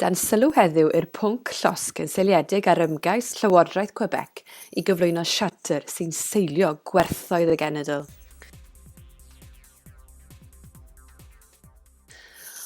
Dan sylw heddiw i'r pwnc llosg yn seiliedig ar ymgais Llywodraeth Quebec i gyflwyno siarter sy'n seilio gwerthoedd y genedl.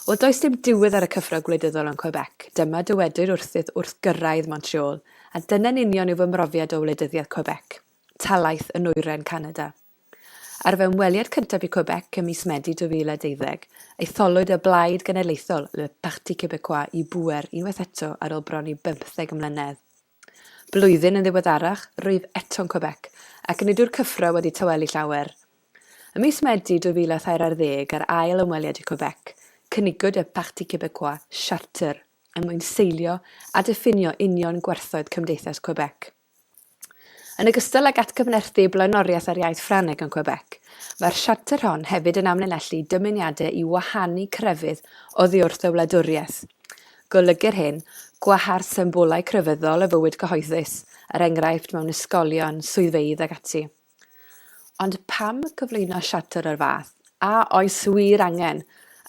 Wel, does dim diwedd ar y cyffro gwleidyddol yn Quebec, dyma dywedir wrthyt wrth gyrraedd Montreal, a dyna'n union yw fy mhrofiad o wleidyddiaeth Quebec, talaith yn nwyren Canada. Ar fy ymweliad cyntaf i Quebec ym mis Medi 2012, etholwyd y Blaid Genedlaethol, Le Parti Québécois, i bŵer unwaith eto ar ôl bron i bymtheg mlynedd. Blwyddyn yn ddiweddarach, rwyf eto'n Quebec, ac nid yw'r cyffro wedi tawelu llawer. Ym mis Medi 2013 ar ddeg ar ail ymweliad i Quebec, cynigwyd y Parti Québécois siarter er mwyn seilio a diffinio union gwerthoedd Cymdeithas Quebec. Yn ogystal ag atgyfnerthu blaenoriaeth ar iaith Ffrangeg yn Quebec, mae'r siarter hon hefyd yn amlinellu dymuniadau i wahanu crefydd oddiwrth y wladwriaeth. Golygu'r hyn, gwahardd symbolau crefyddol o fywyd cyhoeddus, er enghraifft, mewn ysgolion, swyddfeydd ac ati. Ond pam gyflwyno siarter o'r fath? A oes wir angen?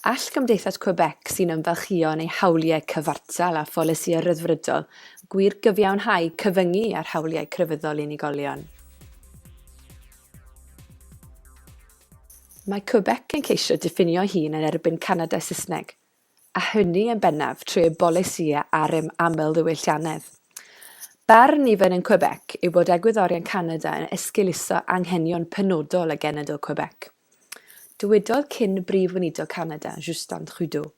All Gymdeithas Quebec sy'n ymfalchïo yn ei hawliau cyfartal a pholisïau rhyddfrydol gwir gyfiawnhau cyfyngu ar hawliau crefyddol unigolion? Mae Quebec yn ceisio diffinio'i hun yn erbyn Canada Saesneg, a hynny yn bennaf trwy y bolisïau ar ym amlddiwylliannedd. Barn nifer yn Quebec yw bod egwyddorion Canada yn esgeuluso anghenion penodol y genedl Quebec. Dywedodd cyn Brif Weinidog Canada, Justin Trudeau,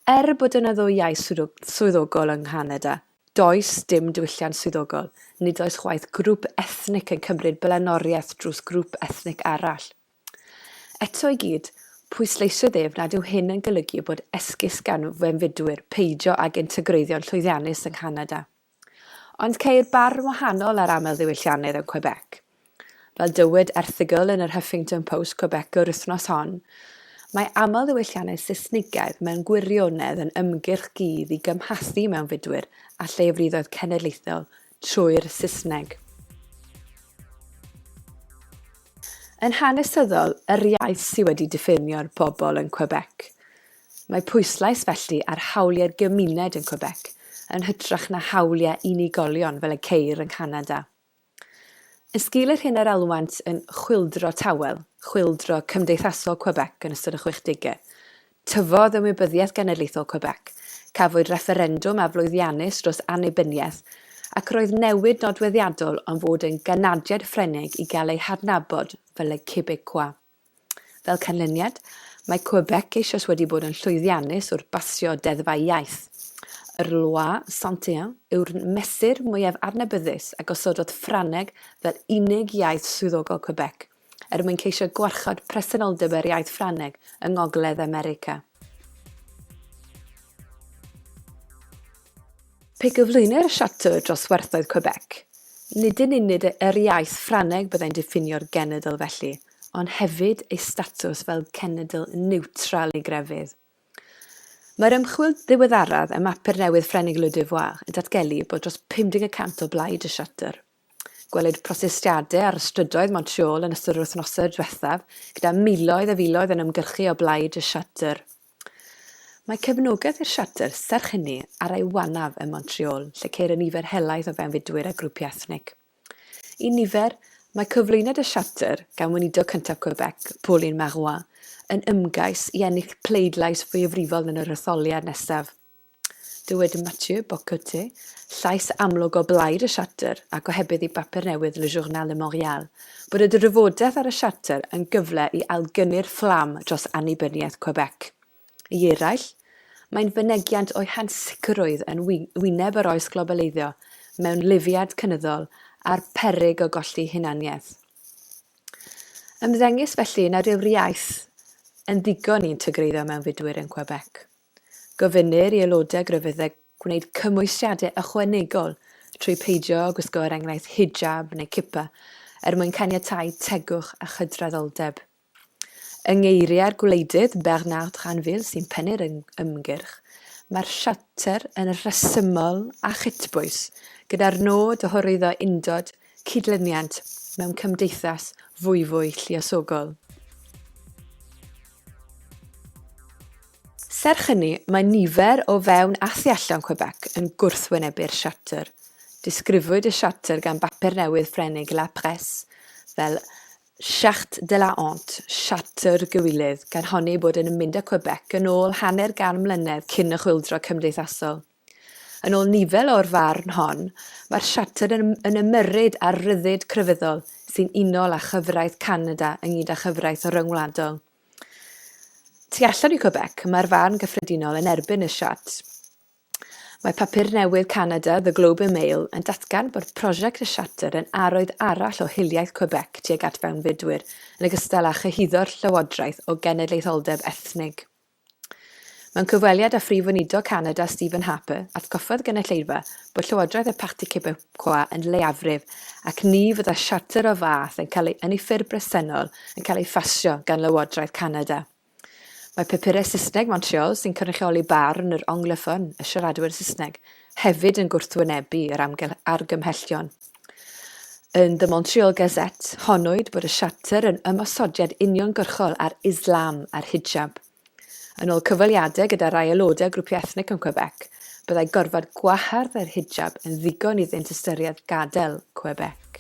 Er bod yna ddwy iaith swyddogol yng Nghanada, does dim diwylliant swyddogol, nid oes chwaith grŵp ethnic yn cymryd blaenoriaeth drws grŵp ethnic arall. Eto i gyd, pwysleisiodd ef nad yw hyn yn golygu bod esgus gan fewnfudwyr peidio ag integreiddio'n llwyddiannus yng Nghanada. Ond ceir barn wahanol ar amlddiwylliannedd yn Quebec. Fel dywed erthygl yn yr Huffington Post Quebec yr wythnos hon, mae amlddiwylliannau Saesnigaidd mewn gwirionedd yn ymgyrch gudd i gymhathu mewnfudwyr â llefridoedd cenedlaethol trwy'r Saesneg. Yn hanesyddol, yr iaith sydd wedi diffinio'r bobl yn Quebec. Mae pwyslais felly ar hawliau'r gymuned yn Quebec yn hytrach na hawliau unigolion fel y ceir yng Nghanada. Yn sgil yr hyn yr alwant yn chwyldro tawel, chwyldro cymdeithasol Quebec yn ystod y chwechdegau, Tyfodd Ymwybyddiaeth Genedlaethol Quebec, cafwyd refferendwm aflwyddiannus dros annibyniaeth, ac roedd newid nodweddiadol am fod yn ganadiad Ffrengig i gael ei hadnabod fel y Québécois. Fel canlyniad, mae Quebec eisoes wedi bod yn llwyddiannus wrth basio deddfau iaith. Yr Loi 101 yw'r mesur mwyaf adnabyddus a gosododd Ffrangeg fel unig iaith swyddogol Quebec, er mwyn ceisio gwarchod presenoldeb yr iaith Ffrangeg yng Ngogledd America. Pe gyflwynir Charter dros werthoedd Quebec, nid yn unig yr iaith Ffrangeg byddai'n diffinio'r genedl felly, ond hefyd ei statws fel cenedl niwtral i grefydd. Mae'r ymchwil ddiweddaraf ym mapur newydd Ffrengig Le Devoir yn datgelu bod dros 50 y cant o blaid y Charter. Gwelwyd protestiadau ar y strydoedd Montreal yn ystod yr wythnosau diwethaf, gyda miloedd a filoedd yn ymgyrchu o blaid y Charter. Mae cefnogaeth i'r Charter, serch hynny, ar ei wanaf ym Montreal, lle ceir y nifer helaeth o fewnfudwyr a grwpiau ethnig. Un nifer, mae cyflwyniad y Charter gan Weinidog cyntaf Quebec, Pauline Marois, yn ymgais i ennill pleidlais fwyafrifol yn yr etholiad nesaf. Dywed Mathieu Bock-Côté, llais amlwg o blaid y Siartr a gohebydd i bapur newydd Le Journal de Montréal, bod y drafodaeth ar y Siartr yn gyfle i ailgynnu'r fflam dros annibyniaeth Quebec. I eraill, mae'n fynegiant o'i hansicrwydd yn wyneb yr oes globaleiddio mewn lufiad cynyddol a'r peryg o golli hunaniaeth. Ymddengys felly nad yw'r iaith yn ddigon i integreiddio mewnfudwyr yn Quebec. Gofynnir i aelodau graddedig gwneud cymwysiadau ychwanegol trwy peidio â gwisgo er enghraifft hijab neu kippa er mwyn caniatáu tegwch a chydraddoldeb. Yng ngeiriau'r gwleidydd Bernard Dranville sy'n pennu'r ymgyrch, mae'r siarter yn rhesymol a chytbwys gyda'r nod o hyrwyddo undod, cydlyniant mewn cymdeithas fwyfwy lluosogol. Serch hynny, mae nifer o fewn a thu allan Quebec yn gwrthwynebu'r siarter. Disgrifwyd y siarter gan bapur newydd Ffrengig La Presse fel charte de la honte, siarter gywilydd, gan honni ei bod yn mynd â Quebec yn ôl hanner gan mlynedd cyn y chwyldro cymdeithasol. Yn ôl Nivel o'r farn hon, mae'r siarter yn yn ymyrryd â'r rhyddid crefyddol sy'n unol â chyfraith Canada ynghyd â chyfraith ryngwladol. Tu allan i Quebec, mae'r farn gyffredinol yn erbyn y siart. Mae papur newydd Canada, The Globe and Mail, yn datgan bod prosiect y siarter yn arwydd arall o hiliaeth Quebec tuag at fewnfudwyr, yn ogystal â chyhuddo'r llywodraeth o genedlaetholdeb ethnig. Mewn cyfweliad â Phrif Weinidog Canada Stephen Harper, atgoffa'r gynulleidfa bod Llywodraeth y Parti Québécois yn leiafrif ac ni fydda siarter o'r fath yn cael ei, yn ei ffurf bresennol, yn cael ei phasio gan Lywodraeth Canada. Mae papurau Saesneg Montreal, sy'n cynrychioli barn yr anglophone, y siaradwyr Saesneg, hefyd yn gwrthwynebu yr argymhellion. Yn The Montreal Gazette, honnwyd bod y siarter yn ymosodiad uniongyrchol ar Islam a'r hijab. Yn ôl cyfweliadau gyda rai aelodau grwpiau ethnic yn Quebec, byddai gorfod gwahardd yr hijab yn ddigon iddynt ystyried gadael Quebec.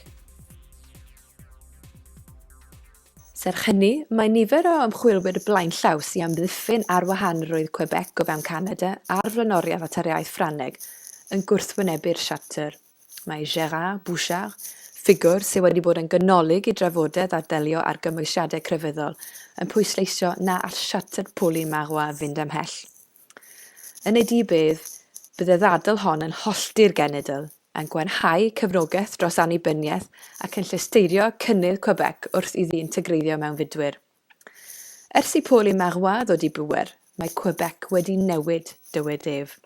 Serch hynny, mae nifer o ymchwilwyr blaenllaw sy'n amddiffyn ar wahanrwydd Quebec o fewn Canada a'r flaenoriaeth at yr iaith Ffrangeg yn gwrthwynebu'r siarter. Mae Gérard Bouchard, ffigwr sydd wedi bod yn ganolig i drafodaeth ar ddelio â'r gymwysiadau crefyddol, yn pwysleisio na all siarter pwli Marois fynd am hell. Yn ei dyb ef, bydd y ddadl hon yn hollti'r genedl, yn gwanhau cefnogaeth dros annibyniaeth ac yn llesteirio cynnydd Quebec wrth iddi integreiddio mewn fudwyr. Ers i Paul y Marois ddod i bŵer, mae Quebec wedi newid, dywed ef.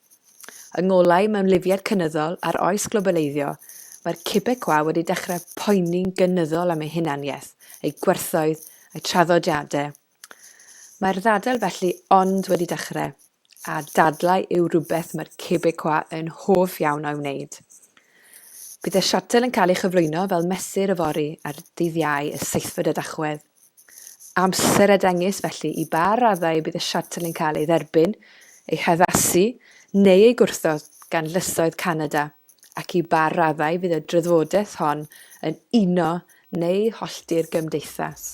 Yng ngolau mewnlifiad cynyddol a'r oes globaleiddio, mae'r Quebecois wedi dechrau poeni'n gynyddol am eu hunaniaeth, eu gwerthoedd, eu traddodiadau. Mae'r ddadl felly ond wedi dechrau, a dadlau yw rhywbeth mae'r Quebecois yn hoff iawn o'i wneud. Bydd y siartel yn cael ei chyflwyno fel mesur yfory ar ddydd Iau y seithfed o Dachwedd. Amser a dengys felly i ba raddau y bydd y siarter yn cael ei dderbyn, ei haddasu neu ei gwrthod gan lysoedd Canada ac i ba raddau fydd y drydfodaeth hon yn uno neu hollti'r gymdeithas.